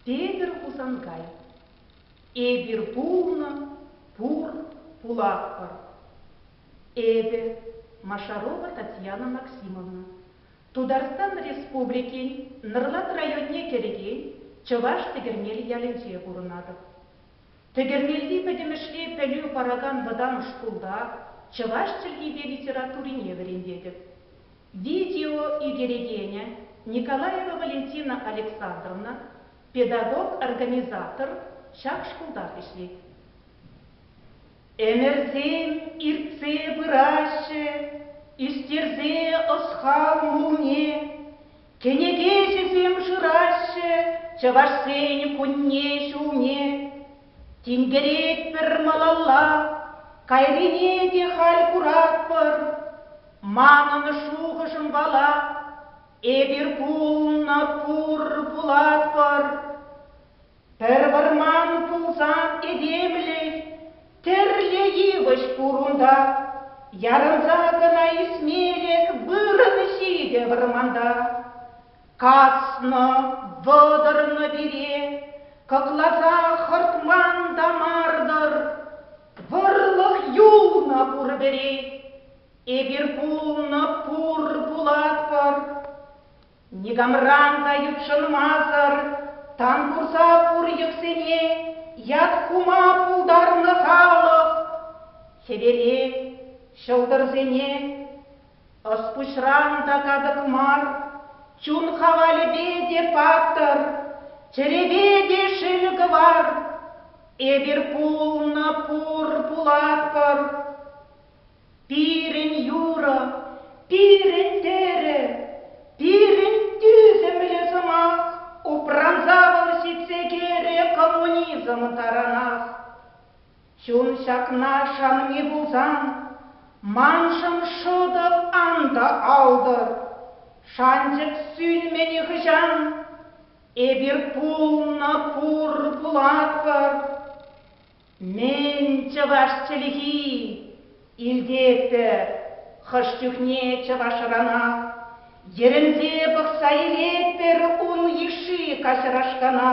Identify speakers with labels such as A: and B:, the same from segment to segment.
A: Петӗр Хусанкай Эпир пулнӑ, пур, пулатпӑр. Эпӗ, Машарова Татьяна Максимовна, Тутарстан Республикин Нӑрлат районне кӗрекен Чӑваш Тӗкӗрнел ялӗнче пурӑнатӑп. Тӗкӗрмелти пӗтӗмӗшле пӗлӳ паракан вӑтам шкулта чӑваш чӗлхипе литературине вӗрентетӗп. Видео ӳкерекенӗ, Николаева Валентина Александровна, педагог-организатор ҫак шкултах ӗҫлет. Ӗмӗрсем иртсе пыраҫҫӗ, ӳстерсе ӑсхал мулне Кӗнеке ӗҫӗсем шыраҫҫӗ чӑвашсен кунне-ҫулне. Тинкеретпӗр малалла, кайрине те халь куратпӑр. Манӑн шухӑшӑм вала, эпир пулнӑ пур пулатпӑр. Пӗр вӑрман пулсан этемлӗх тӗрлӗ йывӑҫ пур унта. Ярӑнса кӑна ӳсмелӗх вырӑн ҫитӗ вӑрманта. Каснӑ, вӑтӑрнӑ пире, кӑкласа хӑртман та мар-тӑр. Вӑрлӑх юлнӑ пур пӗри, эпир пулнӑ пур пулатпӑр. Никамран та ютшӑнмасӑр тан курса пур йӑхсене ят хума пултарнӑ халӑх хӗвере, ҫӑлтӑрсене, ӑс-пуҫран та катӑк мар, чун хавалӗпе те паттӑр, чӗрепе те шел кӑвар. Эпир пулнӑ, пур, пулатпӑр. Пирӗн юрӑ, пирӗн тӗрӗ, пирӗн тӳсӗмлӗ сӑмах упранса вӑл ҫитсе кӗрӗ коммунизм таранах. Чун ҫакна шанми пулсан, маншӑн шӑтӑк ан та алтӑр. Шанчӑк сӳнмӗ нихӑҫан, эпир пулнӑ пур пулатпӑр. Мӗн чӑваш чӗлхи? Илтетпӗр хӑш чухне чӑвашранах. Йӗрӗнсе пӑхса илетпӗр ун йышши каҫарашкана.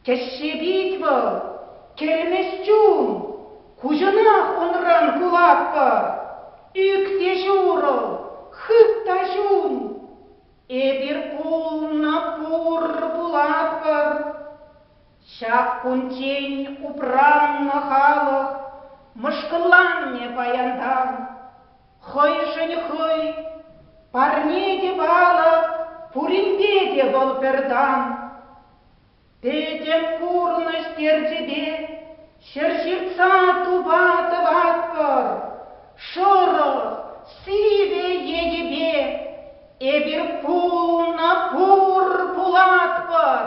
A: Тӗшше пит вӑл, кӗлмӗҫ чун. Куҫӑнах унран кулатпӑр. Ӳк те ҫурӑл, хыт та ҫун. Эпир пулнӑ пур, пулатпӑр. Ҫак кунччен упраннӑ халӑх мӑшкӑлланнӑ паянтан. Хӑйшӗн хӑй, парне те палӑк, пуринпе те вӑл пӗр тан. Пӗтӗм пурнӑҫ терчӗпе ҫӗр ҫыртса тупа тӑватпӑр, шӑрӑх, сивӗ енӗпе эпир пулнӑ пур пулатпӑр.